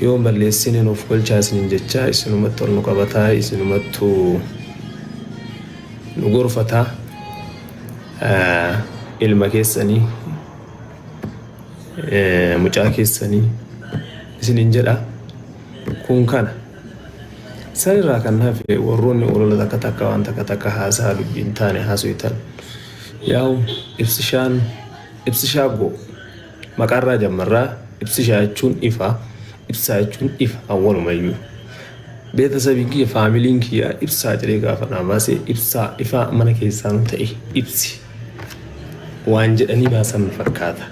Yoo hin balleessine nuuf galchaa isiniin jechaa isinumattu ol nu qabataa isinumattu nu gorfataa ilma keessanii mucaa keessanii isiniin jedha kun kana sanirraa kan hafe warroonni olola takka takka waan takka takka haasaa dubbiin taane haasuytan yaa'u ibsishaan ibsishaa goo Maqaarraa jammarra, ibsishaa jechuun ifa, ibsaa jechuun ifa awwalumayyuu. Beetasabiin kiyya, faamiliin kiyya ibsaa jedhee gaafa naa baase ibsaa ifaa mana keessaanuu ta'e ibsi waan jedhanii baasan na fakkaata.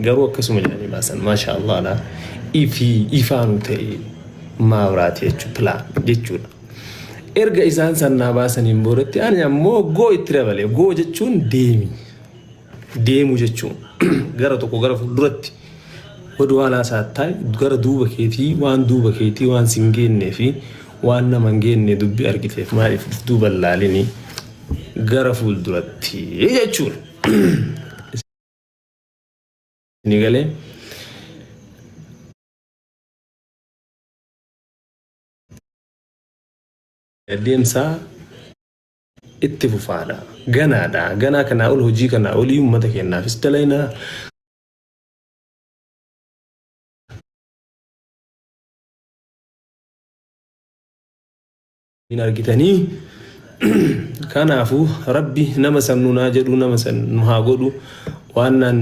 Garuu akkasuma jedhanii baasan maashaa Allaadha. Ifii ifaanuu ta'e maabiraati jechuudha pilaa jechuudha. Erga isaan san naa baasaniin boodatti ani ammoo goo itti dabale. Goo jechuun deemi. deemu jechuun gara tokko gara fuulduratti godhu waan haasaa taa'e gara duuba keetii waan duuba keetii waan sin geennee fi waan nama hin geennee dubbii argiteef maaliif duuba hin laalinii gara fuulduratti jechuun ni galee. Deemsaa itti fufaadha ganaadha ganaa kanaa ol hojii kanaa olii ummata keennaafis dalaynaa hin argitanii kanaafuu rabbi nama san nu naa jedhu nama san nu haa godhu waannaan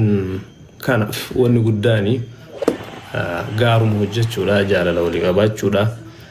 kanaaf wanni guddaani gaaruma hojjechuudha jaalala walii qabaachuudha.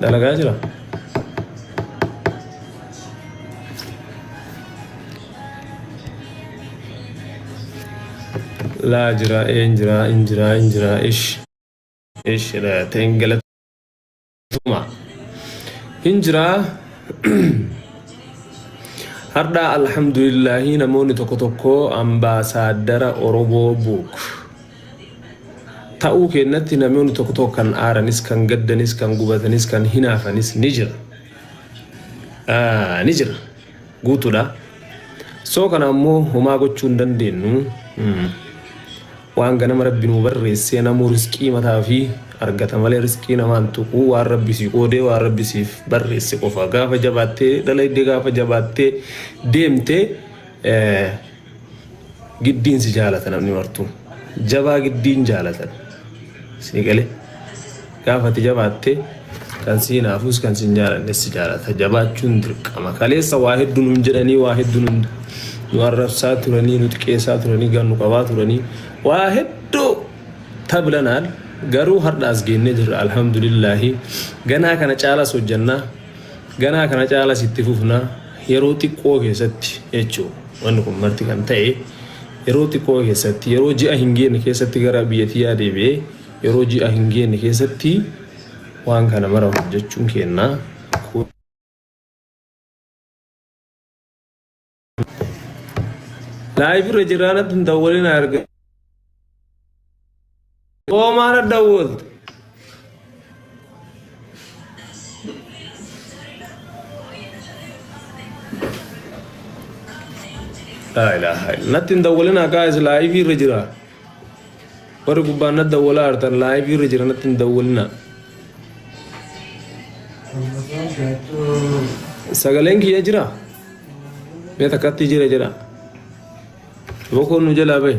Dalagaa jira. Laa jira, een jira, in jira, in jira, ish. Ish, ta'in galata. Tuma. Hin jiraa. Hardhaa alhamdulillahi namoonni tokko tokko ambaasaaddara Oromoo buuk. Ta'uu keenyatti namoonni tokko tokko kan aaranis, kan gaddanis, kan gubatanis, kan hinaafanis ni jira. Ah, Ni jira. guutudha. So kana ammoo homaa gochuu hin dandeennu. Waan ganama rabbi nuu barreessee namuu risqii mataa fi argata malee risqii namaan tuquu waan rabbi sii qoodee waan rabbi siif barreesse qofa. Gaafa jabaattee dalaydee gaafa jabaattee deemte Giddiin si jaalata namni martuu. Jabaa giddiin jaalatan. Sii galee. Gaafa ati jabaatte kan si hinaafuus kan si hin jaalanne si jaalata. Jabaachuun dirqama. Kaleessa waa hedduu nuun jedhanii waa hedduu nuun nu arrabsaa turanii nu xiqqeessaa turanii gan nu qabaa turanii waa hedduu tablanaan garuu har'aas geennee jirra alhamdulillaahi ganaa kana caalas hojjannaa ganaa kana caalas itti fufnaa yeroo xiqqoo keessatti jechuudha. Wanni kun marti kan ta'e yeroo xiqqoo keessatti yeroo ji'a hin geenne keessatti gara biyya tiyyaa deebi'ee yeroo ji'a hin geenne keessatti waan kana mara hojjechuun keenna kun Live irra jiraan addun dawwalee na arga. Omar Dawud. La ilaha illa. Natti hin dawwalin haqaa is laayif irra jira. Warri gubbaan natti dawwalaa artan laayif irra jira natti hin dawwalina. Sagaleen kiyya jira. Mee takkatti jira jira. Bokoon nu jalaa bahe.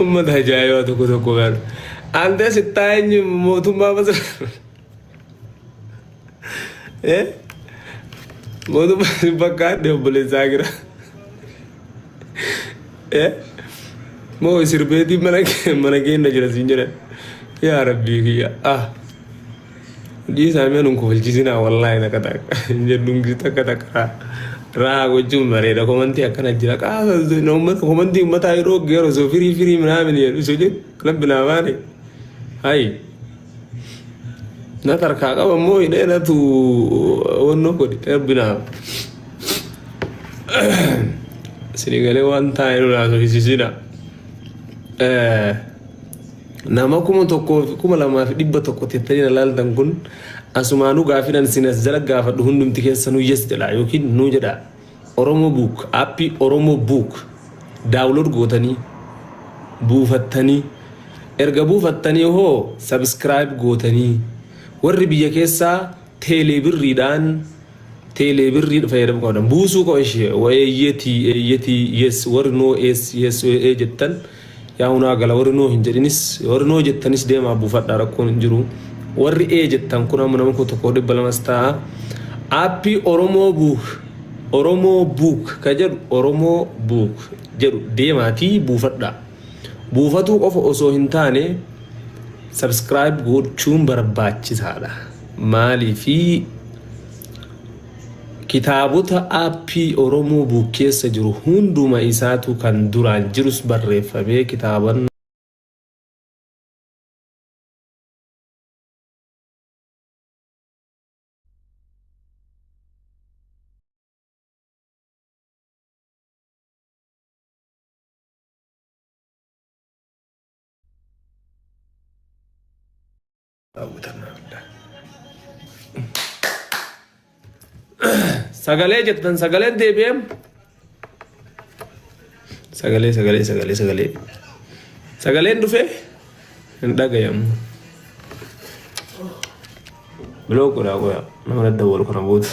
Ummata ajaa'ibaa tokko tokko galu. Ante sittaa eenyu mootummaa masa. Eh? Mootummaa si bakka adde obboleessaa gira. Eh? Moo sirbeetiin mana kee- mana keenya jira siin jedhan. Yaa rabbii kiyya. Ah. Dhiisaa mee nun kofalchisinaa wallaahi takka takka hin jedhuun gisu takka takka rahaa gochuun bareeda komantii akkana jira qaasa na ummata komantii ummataa yeroo geero soo firii firii minaamin jedhu isu jedhu rabbi naa baane hayi na tarkaa qaba immoo hidhee natu wannoo godhe rabbi naa sinigalee waan taa'e nu naasofisisinaa. Eh. Nama 1,200 tettanii na laaltan kun asumaanuu gaafin an isin as jala gaafadhu hundumti keessanuu yes jedhaa yookiin nuu jedhaa Oromo Book appii Oromo Book daawulood gootanii buufattanii erga buufattanii hoo subscribe gootanii warri biyya keessaa Teelee birriidhaan teelee birrii fayyadamuu qabdan buusuu koo ishee eeyyetii eeyyetii yes warri noo yes yes ee jettan yaa hunaa gala warri noo hin jedhinis warri noo jettanis deemaa buufadhaa rakkoon hin jiru warri ee jettan kun amma nama koo tokko dhibba lamas ta'a aappii oromoo buuk oromoo buuk ka jedhu oromoo buuk jedhu deemaatii buufadhaa. Buufatuu qofa osoo hin taane subscribe gochuun barbaachisaadha. Maaliif kitaabota aappii Oromoo buuk keessa jiru hunduma isaatu kan duraan jirus barreeffamee kitaaban Sagalee jettan sagalee deebi'eem. Sagalee sagalee sagalee sagalee. Sagaleen dhufee. Hin dhagayamu. Block godhaa qoyaa. Nama daddawalu kana booda.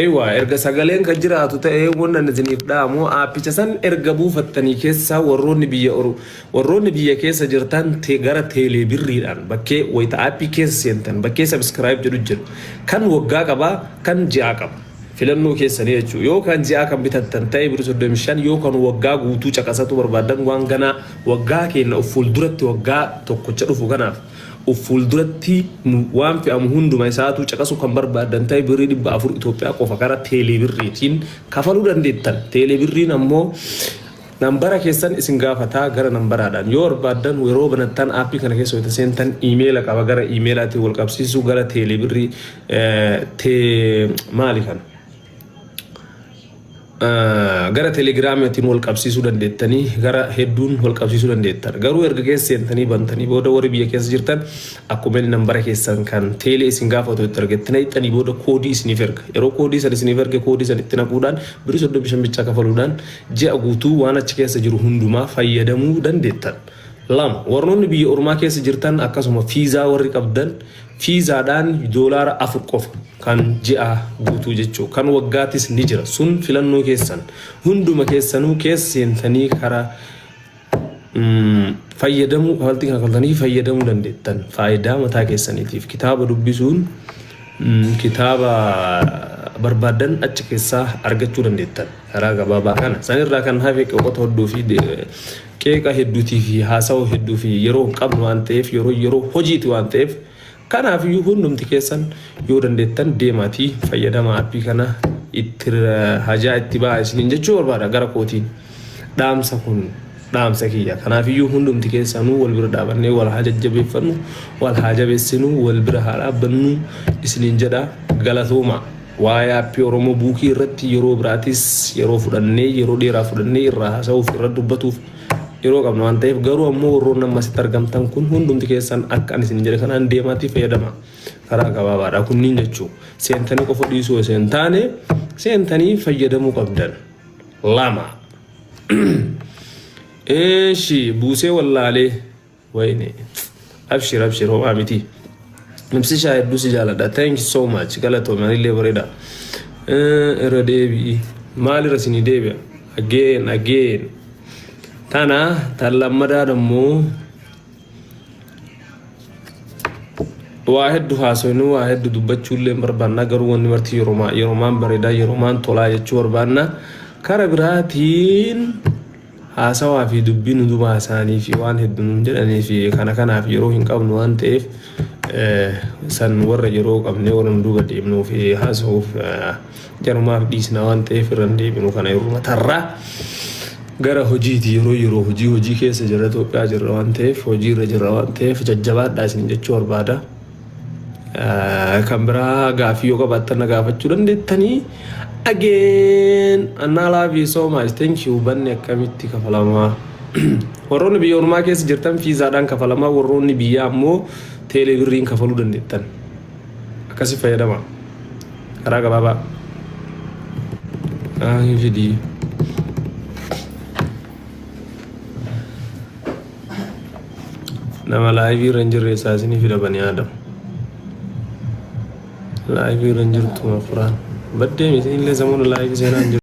Eewaa erga sagaleen kan jiraatu ta'ee wanna isiniif dhaamu aappicha san erga buufattanii keessaa warroonni biyya oru warroonni biyya keessa jirtan te gara teelee birriidhaan bakkee wayita aappii keessa seentan bakkee sabiskiraayib jedhu jiru kan waggaa qabaa kan ji'aa qaba. filannoo keessanii jechuudha. Yoo kan ji'aa kan bitattan ta'e birri 35 yoo kan waggaa guutuu caqasatuu barbaaddan waan ganaa waggaa keenya of fuulduratti waggaa tokkocha dhufu kanaaf of fuulduratti nu waan fe'amu hunduma isaatuu caqasuu kan barbaaddan ta'e birrii 400 Itoophiyaa qofa karaa teelee birriitiin kafaluu dandeettan. Teelee birriin ammoo Nambara keessan isin gaafata gara nambaraadhaan yoo barbaaddan yeroo banattan aappii kana keessa wayita seentan iimeela qaba gara iimeelaatiin wal qabsiisuu gara teelee birrii tee maali kana gara telegiraamiitiin wal qabsiisuu dandeettanii gara hedduun wal qabsiisuu dandeettan garuu erga keessa seentanii bantanii booda warri biyya keessa jirtan akkuma inni nambara keessan kan teelee isin gaafatu itti argattanii ittanii booda koodii isiniif erga yeroo koodii san isiniif erge koodii san itti naquudhaan birii soddomi shan bichaa kafaluudhaan Ji'a guutuu waan achi keessa jiru hundumaa fayyadamuu dandeettan. 2, Warroonni biyya ormaa keessa jirtan akkasuma fiizaa warri qabdan fiizaadhaan doolaara 4 qofa kan ji'a guutuu jechuu kan waggaatis ni jira sun filannoo keessan hunduma keessanuu keessa seentanii karaa fayyadamuu kafaltii kana kafaltanii fayyadamuu dandeettan faayidaa mataa keessaniitiif kitaaba dubbisuun kitaaba barbaadan achi keessaa argachuu dandeettan karaa gabaabaa kana sanirraa kan hafe qeeqota hedduu fi qeeqa hedduutii fi haasawaa hedduu fi yeroo hin qabnu waan ta'eef yeroo yeroo hojiiti waan ta'eef Kanaaf iyyuu hundumti keessan yoo dandeettan deemaatii fayyadamaa appii kana itti hajaa itti ba'aa isiniin jechuu barbaada gara kootiin dhaamsa kun dhaamsa kiyya. Kanaaf iyyuu hundumti keessanuu wal bira dhaabannee wal haa jajjabeeffannu wal haa jabeessinu wal bira haa dhaabbannu isiniin jedha galatooma. Waa'ee appii Oromoo buukii irratti yeroo biraatis yeroo fudhannee yeroo dheeraa fudhannee irraa haasa'uuf irra dubbatuuf yeroo qabna waan ta'eef garuu ammoo warroonni amma asitti argamtan kun hundumti keessan akka ani isin jedhe kanaan deemaatii fayyadama karaa gabaabaadha kunniin jechuu seentanii qofa dhiisuu osoo hin taane seentanii fayyadamuu qabdan lama eeshi buusee wallaalee Wayne abshir abshir homaa miti. Ibsishaa hedduu si jaaladha. Thank you so much. Galatoomi anillee bareeda. Eh, Irra deebi'i. Maalirra isinii deebi'a? Again again. Tana tan lammadaa dammoo waa heddu haasofnu waa heddu dubbachuullee hin barbaanna garuu wanni marti yeromaa yeromaan bareedaa yeromaan tolaa jechuu barbaanna. Kara biraatiin Haasawaa fi dubbiin hundumaa isaanii fi waan heddu nuun jedhanii fi kana kanaaf yeroo hin qabnu waan ta'eef san warra yeroo qabnee warra nu duuba deemnuu fi haasawuuf jarumaaf dhiisna waan ta'eef irra hin deebinu kana yeruma tarraa gara hojiiti yeroo yeroo hojii hojii keessa jirra Itoophiyaa jirra waan ta'eef hojii irra jirra waan ta'eef jajjabaadhaa isin jechuu barbaada. Kan biraa gaaffii yoo qabaattan na gaafachuu dandeettanii. Again, Annaa love you so much. Thank you. Banni akkamitti kafalamaa? Warroonni biyya ormaa keessa jirtan fiizaadhaan kafalamaa, warroonni biyyaa ammoo teelee birriin kafaluu dandeettan. Akkasi fayyadama. Karaa gabaabaa. Ah, hin fidii. nama laayivii irra hin jirre eessaa isinii fida banii aadam laayivii irra hin jirtu mafuraan baddee isinillee samuuna laayivii seenaa hin jirtu